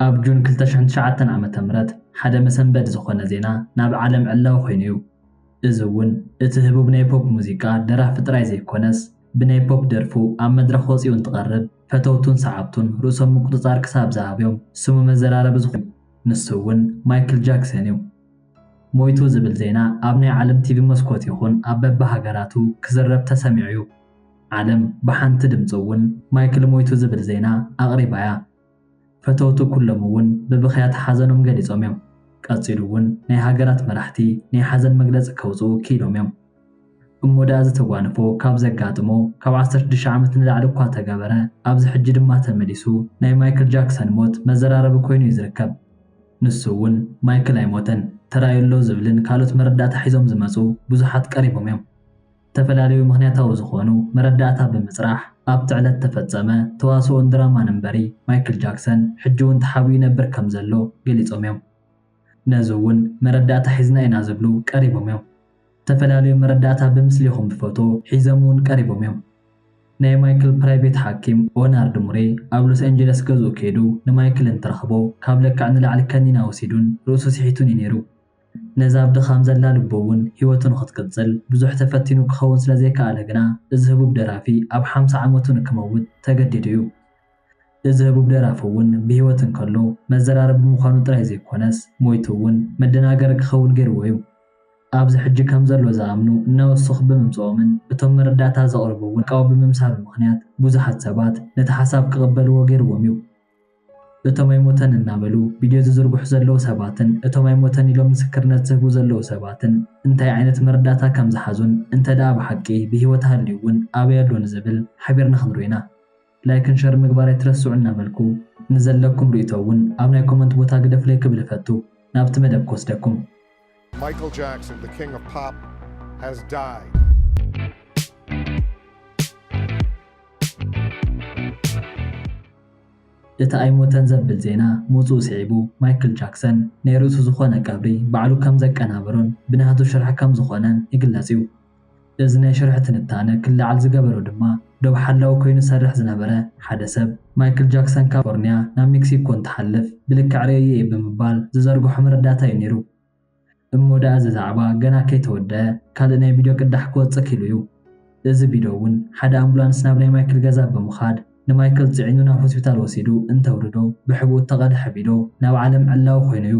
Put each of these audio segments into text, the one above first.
ኣብ ጁን ክልተ ሽሕን ትሽዓተን ዓመተ ምህረት ሓደ መሰንበዲ ዝኾነ ዜና ናብ ዓለም ዕላዊ ኮይኑ እዩ። እዚ እውን እቲ ህቡብ ናይ ፖፕ ሙዚቃ ደራፊ ጥራይ ዘይኮነስ ብናይ ፖፕ ደርፉ ኣብ መድረኽ ወጺኡ እንትቐርብ ፈተውቱን ሰዓብቱን ርእሶም ምቁጽጻር ክሳብ ዝኣብዮም ስሙ መዘራረቢ ዝኾነ ንሱ እውን ማይክል ጃክሰን እዩ። ሞይቱ ዝብል ዜና ኣብ ናይ ዓለም ቲቪ መስኮት ይኹን ኣብ በብሃገራቱ ክዝረብ ተሰሚዑ እዩ። ዓለም ብሓንቲ ድምጺ እውን ማይክል ሞይቱ ዝብል ዜና ኣቕሪባ እያ። ፈተውቱ ኩሎም እውን ብብኽያት ሓዘኖም ገሊጾም እዮም። ቀጺሉ እውን ናይ ሃገራት መራሕቲ ናይ ሓዘን መግለጺ ከውጽኡ ክኢሎም እዮም። እሞ ደኣ እዚ ተጓንፎ ካብ ዘጋጥሞ ካብ ዓሰርተ ሽዱሽተ ዓመት ንላዕሊ እኳ ተገበረ፣ ኣብዚ ሕጂ ድማ ተመሊሱ ናይ ማይክል ጃክሰን ሞት መዘራረቢ ኮይኑ እዩ ዝርከብ። ንሱ እውን ማይክል ኣይሞተን፣ ተራእዩ ኣሎ ዝብልን ካልኦት መረዳእታ ሒዞም ዝመጹ ብዙሓት ቀሪቦም እዮም። ዝተፈላለዩ ምኽንያታዊ ዝኾኑ መረዳእታ ብምፅራሕ ኣብቲ ዕለት ተፈፀመ ተዋስኦን ድራማን እምበሪ ማይክል ጃክሰን ሕጂ ውን ተሓቢኡ ይነብር ከም ዘሎ ገሊፆም ዮም። ነዚ ውን መረዳእታ ሒዝና ኢና ዝብሉ ቀሪቦም ዮም። ዝተፈላለዩ መረዳእታ ብምስሊ ይኹን ብፎቶ ሒዘም ውን ቀሪቦም ዮም። ናይ ማይክል ፕራይቬት ሓኪም ኦናርድ ሙሬ ኣብ ሎስ ኣንጀለስ ገዝኡ ከይዱ ንማይክል እንትረኽቦ ካብ ለክዕ ንላዕሊ ከኒና ወሲዱን ርእሱ ስሒቱን ዩ ነይሩ። ነዛ ኣብ ድኻም ዘላ ልቡ እውን ህይወቱ ንኽትቅጽል ብዙሕ ተፈቲኑ ክኸውን ስለ ዘይከኣለ ግና እዚ ህቡብ ደራፊ ኣብ ሓምሳ ዓመቱ ንክመውት ተገዲዱ እዩ። እዚ ህቡብ ደራፊ እውን ብህይወት እንከሎ መዘራረቢ ምዃኑ ጥራይ ዘይኮነስ ሞይቱ እውን መደናገሪ ክኸውን ገይርዎ እዩ። ኣብዚ ሕጂ ከም ዘሎ ዝኣምኑ እናወሰኹ ብምምጽኦምን እቶም መረዳእታ ዘቕርቡ እውን ቃው ብምምሳሉ ምኽንያት ብዙሓት ሰባት ነቲ ሓሳብ ክቕበልዎ ገይርዎም እዩ። እቶም ኣይሞተን እናበሉ ቪድዮ ዝዝርግሑ ዘለዉ ሰባትን እቶም ኣይሞተን ኢሎም ምስክርነት ዝህቡ ዘለዉ ሰባትን እንታይ ዓይነት መረዳእታ ከም ዝሓዙን እንተድኣ ብሓቂ ብህይወት ሃልዩ እውን ኣበይ ኣሎ ንዝብል ሓቢርና ክንሪኦ ኢና። ላይክን ሸርን ምግባር ኣይትረስዑ እናበልኩ ንዘለኩም ርእይቶ እውን ኣብ ናይ ኮመንት ቦታ ግደፉለይ ክብል እፈቱ። ናብቲ መደብ ክወስደኩም። Michael Jackson, the king of pop, has died. እቲ ኣይሞተን ዘብል ዜና ምውጽኡ ስዒቡ ማይክል ጃክሰን ናይ ርእሱ ዝኾነ ቀብሪ ባዕሉ ከም ዘቀናብሮን ብናቱ ሽርሒ ከም ዝኾነን ይግለጽ'ዩ። እዚ ናይ ሽርሒ ትንታነ ክለዓል ዝገበሮ ድማ ዶብ ሓላዊ ኮይኑ ዝሰርሕ ዝነበረ ሓደ ሰብ፣ ማይክል ጃክሰን ካብ ካሊፎርንያ ናብ ሜክሲኮ እንትሓልፍ ብልክዕ ርእየዮ እየ ብምባል ዝዘርግሖ መረዳእታ እዩ ነይሩ። እሞ ደኣ እዚ ዛዕባ ገና ከይተወደኣ ካልእ ናይ ቪድዮ ቅዳሕ ክወጽእ ክኢሉ እዩ። እዚ ቪድዮ እውን ሓደ ኣምቡላንስ ናብ ናይ ማይክል ገዛ ብምኻድ ንማይክል ጽዒኑ ናብ ሆስፒታል ወሲዱ እንተውርዶ ብሕቡእ እተቐድሐ ቪድዮ ናብ ዓለም ዕላዊ ኮይኑ እዩ።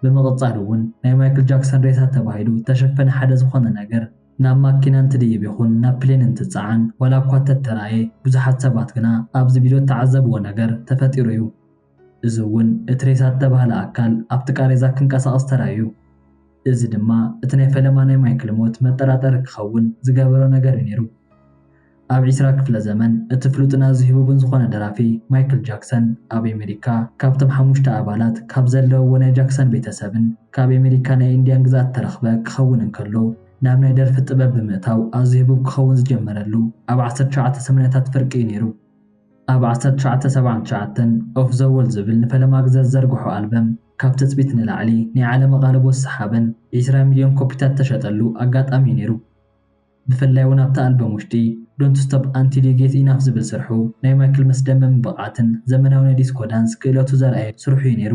ብምቕጻል እውን ናይ ማይክል ጃክሰን ሬሳ ተባሂሉ እተሸፈነ ሓደ ዝኾነ ነገር ናብ ማኪና እንትድይብ ይኹን ናብ ፕሌን እንትጸዓን ዋላ እኳ እተተራእየ፣ ብዙሓት ሰባት ግና ኣብዚ ቪድዮ እተዓዘብዎ ነገር ተፈጢሩ እዩ። እዚ እውን እቲ ሬሳ እተባህለ ኣካል ኣብቲ ቃሬዛ ክንቀሳቐስ ተራእዩ። እዚ ድማ እቲ ናይ ፈለማ ናይ ማይክል ሞት መጠራጠሪ ክኸውን ዝገበሮ ነገር እዩ ነይሩ። ኣብ ዒስራ ክፍለ ዘመን እቲ ፍሉጥን ኣዝዩ ህቡብን ዝኾነ ደራፊ ማይክል ጃክሰን ኣብ ኤመሪካ ካብቶም ሓሙሽተ ኣባላት ካብ ዘለውዎ ናይ ጃክሰን ቤተሰብን ካብ ኤመሪካ ናይ ኢንድያን ግዝኣት እተረኽበ ክኸውን እንከሎ ናብ ናይ ደርፊ ጥበብ ብምእታው ኣዝዩ ህቡብ ክኸውን ዝጀመረሉ ኣብ ዓሰርተ ትሽዓተ ሰማንያታት ፍርቂ እዩ ነይሩ። ኣብ ዓሰርተ ትሽዓተ ሰብዓን ትሽዓተን ኦፍ ዘ ዎል ዝብል ንፈለማ ግዘ ዝዘርግሖ ኣልበም ካብ ትፅቢት ንላዕሊ ናይ ዓለም ኣቓልቦ ዝሰሓበን ዒስራ ሚልዮን ኮፒታት ዝተሸጠሉ ኣጋጣሚ እዩ ነይሩ። ብፍላይ ውን ኣብታ ኣልበም ውሽጢ Don't Stop Until You Get Enough ዝብል ስርሑ ናይ ማይክል መስደመምን ብቕዓትን ዘመናዊ ናይ ዲስኮ ዳንስ ክእለቱ ዘርኣየሉ ስርሑ ዩ ነይሩ።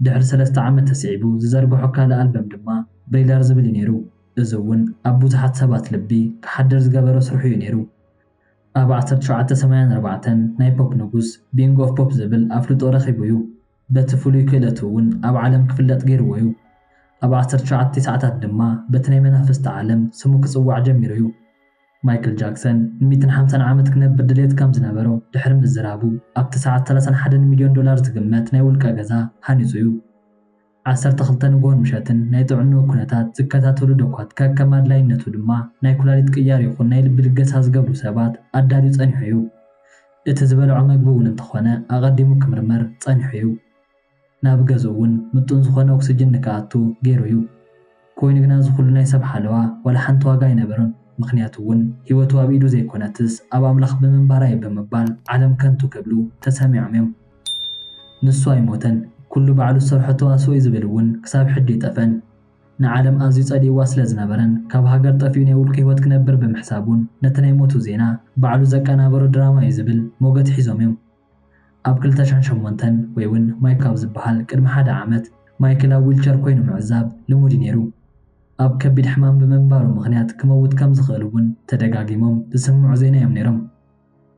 ድሕሪ ሰለስተ ዓመት ተስዒቡ ዝዘርግሖ ካልእ ኣልበም ድማ Thriller ዝብል ዩ ነይሩ እዚ ውን ኣብ ብዙሓት ሰባት ልቢ ክሓድር ዝገበሮ ስርሑ ዩ ነይሩ። ኣብ ዓሰርተ ሸውዓተ ሰማያን ኣርባዕተን ናይ ፖፕ ንጉስ፣ Bing of Pop፣ ዝብል ኣፍልጦ ረኺቡ ዩ። በቲ ፍሉይ ክእለቱ እውን ኣብ ዓለም ክፍለጥ ገይርዎ እዩ። ኣብ ዓሰርተ ትሽዓተ ትስዓታት ድማ በቲ ናይ መናፍስቲ ዓለም ስሙ ክጽዋዕ ጀሚሩ እዩ። ማይክል ጃክሰን ንሚእትን ሓምሳን ዓመት ክነብር ድሌት ከም ዝነበሮ ድሕሪ ምዝራቡ ኣብቲ ሰዓት ሰላሳን ሓደን ሚልዮን ዶላር ዝግመት ናይ ውልቀ ገዛ ሃኒጹ እዩ። ዓሰርተ ክልተ ንግሆን ምሸትን ናይ ጥዕንኡ ኩነታት ዝከታተሉ ዶኳት ከከም ኣድላይነቱ ድማ ናይ ኩላሊት ቅያር ይኹን ናይ ልቢ ልገሳ ዝገብሩ ሰባት ኣዳልዩ ጸኒሑ እዩ። እቲ ዝበልዖ መግቢ እውን እንተኾነ ኣቐዲሙ ክምርመር ጸኒሑ እዩ። ናብ ገዝኡ እውን ምጡን ዝኾነ ኦክስጅን ንክኣቱ ገይሩ እዩ። ኮይኑ ግና እዚ ኩሉ ናይ ሰብ ሓለዋ ዋላ ሓንቲ ዋጋ ኣይነበሮን። ምኽንያቱ እውን ህይወቱ ኣብ ኢዱ ዘይኮነትስ ኣብ ኣምላኽ ብምንባራ እዩ ብምባል ዓለም ከንቱ ክብሉ ተሰሚዖም እዮም። ንሱ ኣይሞተን ኩሉ ባዕሉ ዝሰርሖ ተዋስኦ እዩ ዝብል እውን ክሳብ ሕጂ ኣይጠፍአን። ንዓለም ኣዝዩ ጸሊእዋ ስለ ዝነበረን ካብ ሃገር ጠፊኡ ናይ ውልቁ ህይወት ክነብር ብምሕሳቡን ነቲ ናይ ሞቱ ዜና ባዕሉ ዘቀናበሮ ድራማ'ዩ ዝብል ሞገት ሒዞም'ዮም። ኣብ ክልተ ሽሕን ሸሞንተን ወይ'ውን ማይክ ኣብ ዝበሃል ቅድሚ ሓደ ዓመት ማይክል ኣብ ዊልቸር ኮይኑ ምዕዛብ ልሙድ'ዩ ነይሩ። ኣብ ከቢድ ሕማም ብምንባሩ ምኽንያት ክመውት ከም ዝኽእል'ውን ተደጋጊሞም ዝስምዑ ዜና'ዮም ነይሮም።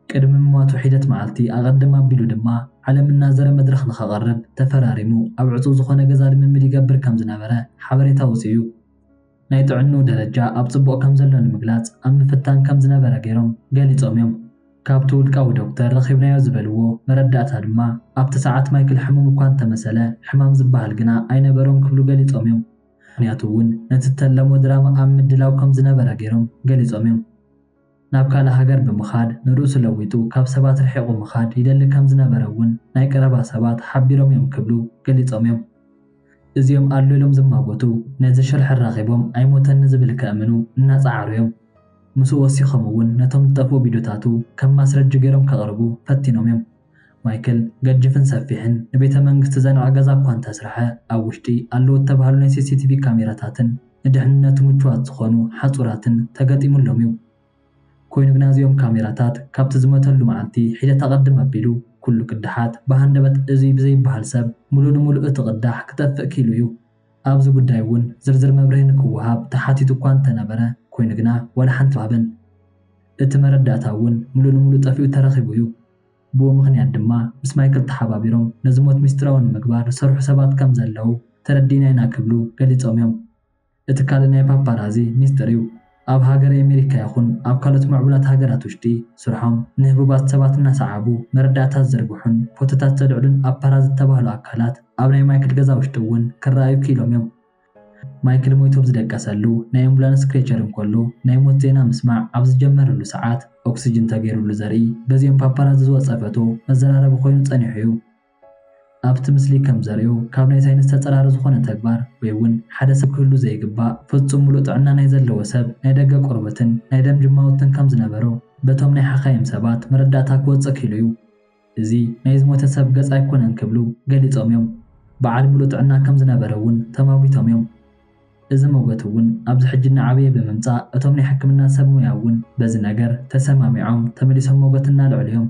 ቅድሚ ምሟቱ ሒደት መዓልቲ ኣቐድም ኣቢሉ ድማ፣ ዓለም እናዘረ መድረኽ ንኸቕርብ ተፈራሪሙ፣ ኣብ ዕጹው ዝኾነ ገዛ ልምምድ ይገብር ከም ዝነበረ ሓበሬታ ወጺኡ። ናይ ጥዕንኡ ደረጃ ኣብ ጽቡቕ ከም ዘሎ ንምግላጽ ኣብ ምፍታን ከም ዝነበረ ገይሮም ገሊጾም እዮም። ካብቲ ውልቃዊ ዶክተር ረኺብናዮ ዝበልዎ መረዳእታ ድማ፣ ኣብቲ ሰዓት ማይክል ሕሙም እኳ እንተ መሰለ፣ ሕማም ዝበሃል ግና ኣይነበሮን ክብሉ ገሊጾም እዮም። ምኽንያቱ እውን ነቲ እተለሞ ድራማ ኣብ ምድላው ከም ዝነበረ ገይሮም ገሊጾም እዮም። ናብ ካልእ ሃገር ብምኻድ ንርእሱ ለዊጡ ካብ ሰባት ርሒቑ ምኻድ ይደሊ ከም ዝነበረ'ውን ናይ ቀረባ ሰባት ሓቢሮም'ዮም ክብሉ ገሊጾም'ዮም። እዚኦም ኣሎ ኢሎም ዝማጐቱ፣ ነዚ ሽርሒ ኣራኺቦም ኣይሞተኒ ዝብል ከእምኑ እናጸዓሩ'ዮም። ምስኡ ወሲኾም'ውን ነቶም ዝጠፍኡ ቪድዮታቱ ከም ማስረጂ ገይሮም ከቕርቡ ፈቲኖም'ዮም። ማይክል ገጅፍን ሰፊሕን ንቤተ መንግስቲ ዘንዕ ገዛ እኳ እንተስርሐ፣ ኣብ ውሽጢ ኣለዉ እተባህሉ ናይ ሲሲቲቪ ካሜራታትን ንድሕንነቱ ምቹዋት ዝዀኑ ሓጹራትን ተገጢሙሎም እዩ። ኰይኑ ግና እዚኦም ካሜራታት ካብቲ ዝመተሉ መዓልቲ ሒደት ኣቐድም ኣቢሉ ኵሉ ቅዳሓት ብሃንደበት እዙይ ብዘይብሃል ሰብ ምሉእ ንምሉእ እቲ ቅዳሕ ክጠፍእ ክኢሉ እዩ። ኣብዚ ጉዳይ እውን ዝርዝር መብርሂ ንክወሃብ ተሓቲቱ እኳ እንተነበረ ኮይኑ ግና ዋላ ሓንቲ ኣይተዋህበን። እቲ መረዳእታ እውን ሙሉእ ንሙሉእ ጠፊኡ ተረኺቡ እዩ። ብኡ ምኽንያት ድማ ምስ ማይክል ተሓባቢሮም ነዚ ሞት ሚስጢራዊ ንምግባር ዝሰርሑ ሰባት ከም ዘለዉ ተረዲእና ኢና ክብሉ ገሊፆም እዮም። እቲ ካልእ ናይ ፓፓራዚ ሚስጥር እዩ። ኣብ ሃገረ ኣሜሪካ ይኹን ኣብ ካልኦት ምዕቡላት ሃገራት ውሽጢ ስርሖም ንህቡባት ሰባት እናሰዓቡ መረዳእታ ዝዝርግሑን ፎቶታት ዘልዕሉን ኣብ ፓራዝ ዝተባህሉ ኣካላት ኣብ ናይ ማይክል ገዛ ውሽጢ እውን ክረኣዩ ክኢሎም እዮም። ማይክል ሞይቱ ኣብ ዝደቀሰሉ ናይ ኣምቡላንስ ክሬቸር እንከሎ ናይ ሞት ዜና ምስማዕ ኣብ ዝጀመረሉ ሰዓት ኦክስጅን ተገይሩሉ ዘርኢ በዚኦም ፓፓራዚ ዝወፀ ፈቶ መዘራረቢ ኮይኑ ፀኒሑ እዩ። ኣብቲ ምስሊ ከም ዘርእዮ ካብ ናይ ሳይንስ ተጸራሪ ዝኾነ ተግባር ወይ ውን ሓደ ሰብ ክህሉ ዘይግባእ ፍጹም ምሉእ ጥዕና ናይ ዘለዎ ሰብ ናይ ደገ ቆርበትን ናይ ደም ጅማውትን ከም ዝነበሮ በቶም ናይ ሓካይም ሰባት መረዳእታ ክወጽእ ክኢሉ እዩ። እዚ ናይ ዝሞተ ሰብ ገጽ ኣይኮነን ክብሉ ገሊጾም እዮም። በዓል ምሉእ ጥዕና ከም ዝነበረ ውን ተማጒቶም እዮም። እዚ ሞገት ውን ኣብዚ ሕጂ እናዓበየ ብምምጻእ እቶም ናይ ሕክምና ሰብ ሞያ ውን በዚ ነገር ተሰማሚዖም ተመሊሶም ሞገት እናልዕሉ እዮም።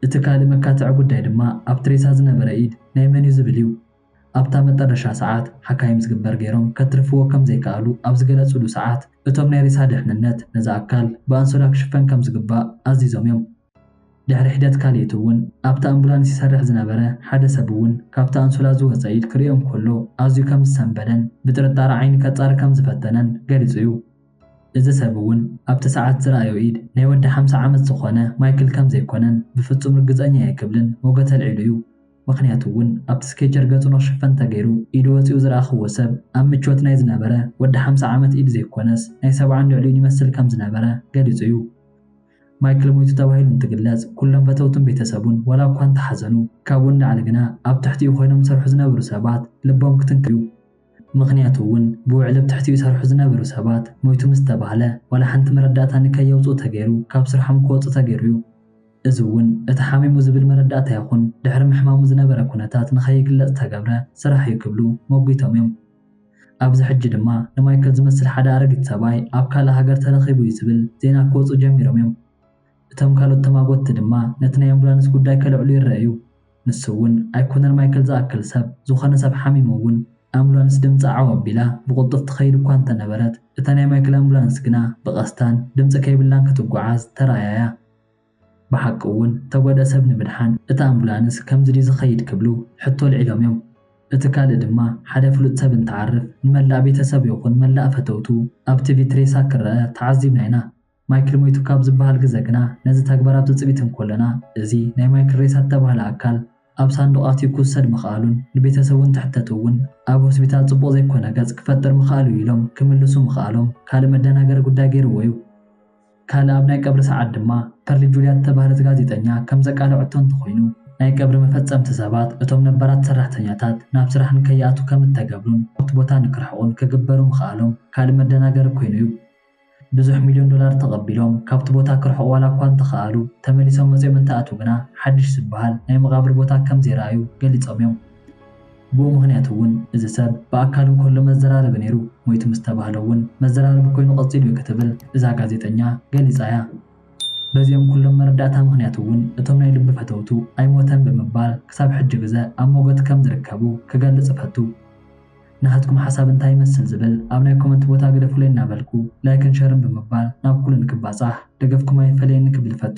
እቲ ካልእ መካትዒ ጉዳይ ድማ ኣብ ትሬሳ ዝነበረ ኢድ ናይ መን'ዩ ዝብል እዩ። ኣብታ መጠረሻ ሰዓት ሓካይም ዝግበር ገይሮም ከትርፍዎ ከም ዘይከኣሉ ኣብ ዝገለጹሉ ሰዓት እቶም ናይ ሬሳ ድሕንነት ነዚ ኣካል ብኣንሶላ ክሽፈን ከም ዝግባእ ኣዚዞም'ዮም። ድሕሪ ሒደት ካልኢት'ውን ኣብታ ኣምቡላንስ ይሰርሕ ዝነበረ ሓደ ሰብ'ውን ካብታ ኣንሶላ ዝወጸ ኢድ ክርእዮ እንከሎ ኣዝዩ ከም ዝሰንበደን ብጥርጣረ ዓይኒ ከጻሪ ከም ዝፈተነን ገሊጹ'ዩ። እዚ ሰብ እውን ኣብቲ ሰዓት ዝረኣዮ ኢድ ናይ ወዲ ሓምሳ ዓመት ዝኾነ ማይክል ከም ዘይኮነን ብፍጹም ርግጸኛ እየ ክብልን ሞገት ኣልዒሉ እዩ። ምኽንያቱ እውን ኣብቲ ስኬቸር ገጹ ንኽሽፈን ተገይሩ ኢዱ ወጺኡ ዝረኣኹዎ ሰብ ኣብ ምቾት ናይ ዝነበረ ወዲ ሓምሳ ዓመት ኢድ ዘይኮነስ ናይ ሰብዓን ልዕሊኡን ይመስል ከም ዝነበረ ገሊጹ እዩ። ማይክል ሞይቱ ተባሂሉ እንትግለጽ ኩሎም ፈተውቱን ቤተሰቡን ዋላ እኳ እንተሓዘኑ ካብኡ ንላዕሊ ግና ኣብ ትሕቲኡ ኮይኖም ዝሰርሑ ዝነበሩ ሰባት ልቦም ክትንክፍ እዩ። ምኽንያቱ እውን ብውዕሊ ኣብ ትሕቲኡ ይሰርሑ ዝነበሩ ሰባት ሞይቱ ምስ ተባህለ ዋላ ሓንቲ መረዳእታ ንከየውፅኡ ተገይሩ ካብ ስርሖም ክወፁ ተገይሩ እዩ። እዚ እውን እቲ ሓሚሙ ዝብል መረዳእታ ይኹን ድሕሪ ምሕማሙ ዝነበረ ኩነታት ንከይግለፅ ዝተገብረ ስራሕ እዩ ክብሉ ሞጒቶም እዮም። ኣብዚ ሕጂ ድማ ንማይከል ዝመስል ሓደ ኣረጊት ሰብኣይ ኣብ ካልእ ሃገር ተረኺቡ እዩ ዝብል ዜና ክወፅኡ ጀሚሮም እዮም። እቶም ካልኦት ተማጐትቲ ድማ ነቲ ናይ ኣምቡላንስ ጉዳይ ከልዕሉ ይረኣዩ። ንሱ እውን ኣይኮነን ማይክል ዝኣክል ሰብ፣ ዝኾነ ሰብ ሓሚሙ እውን ኣምቡላንስ ድምጻ ዓው ኣቢላ ብቕልጡፍ ትኸይድ እኳ እንተነበረት፣ እታ ናይ ማይክል ኣምቡላንስ ግና ብቐስታን ድምጺ ከይብላን ክትጓዓዝ ተራእያ እያ። ብሓቂ እውን እተጎድኣ ሰብ ንምድሓን እታ ኣምቡላንስ ከምዚ ድዩ ዝኸይድ ክብሉ ሕቶ ኣልዒሎም እዮም። እቲ ካልእ ድማ ሓደ ፍሉጥ ሰብ እንትዓርፍ ንመላእ ቤተሰቡ ይኹን መላእ ፈተውቱ ኣብ ቲቪ እቲ ሬሳ ክረኣ ተዓዚብና ኢና። ማይክል ሞይቱ ካብ ዝበሃል ግዘ ግና ነዚ ተግባር ኣብ ትፅቢት እንኮለና እዚ ናይ ማይክል ሬሳ እተባህለ ኣካል ኣብ ሳንዱቕ ኣትዩ ክውሰድ ምኽኣሉን ንቤተሰቡ እንትሕተቱ እውን ኣብ ሆስፒታል ፅቡቕ ዘይኮነ ገፅ ክፈጥር ምኽኣሉ እዩ ኢሎም ክምልሱ ምኽኣሎም ካልእ መደናገሪ ጉዳይ ገይርዎ እዩ። ካልእ ኣብ ናይ ቀብሪ ሰዓት ድማ ፐርሊ ጁልያ እተባህለት ጋዜጠኛ ከም ዘቃለዐቶ እንተኾይኑ፣ ናይ ቀብሪ መፈፀምቲ ሰባት እቶም ነባራት ሰራሕተኛታት ናብ ስራሕ ንከይኣትዉ ከም እተገብሩን ካብቲ ቦታ ንክርሕቑን ክግበሩ ምኽኣሎም ካልእ መደናገሪ ኮይኑ እዩ። ብዙሕ ሚልዮን ዶላር ተቐቢሎም ካብቲ ቦታ ክርሕቑ ዋላ እኳ እንተኸኣሉ፣ ተመሊሶም መጺኦም እንተኣትዉ ግና ሓድሽ ዝበሃል ናይ መቓብር ቦታ ከም ዘይረኣዩ ገሊጾም እዮም። ብኡ ምኽንያት እውን እዚ ሰብ ብኣካል እንከሎ መዘራረቢ ነይሩ፣ ሞይቱ ምስ ተባህለ እውን መዘራረቢ ኰይኑ ቀጺሉ እዩ ክትብል እዛ ጋዜጠኛ ገሊጻ እያ። በዚኦም ኵሎም መረዳእታ ምኽንያት እውን እቶም ናይ ልቢ ፈተውቱ ኣይሞተን ብምባል ክሳብ ሕጂ ግዘ ኣብ ሞገት ከም ዝርከቡ ክገልጽ እፈቱ። ናሃትኩም ሓሳብ እንታይ ይመስል ዝብል ኣብ ናይ ኮመንት ቦታ ግደፉለይ እናበልኩ ላይክን ሸርን ብምግባር ናብ ኩሉ ንክባፃሕ ደገፍኩም ኣይፈለየኒ ክብል እፈቱ።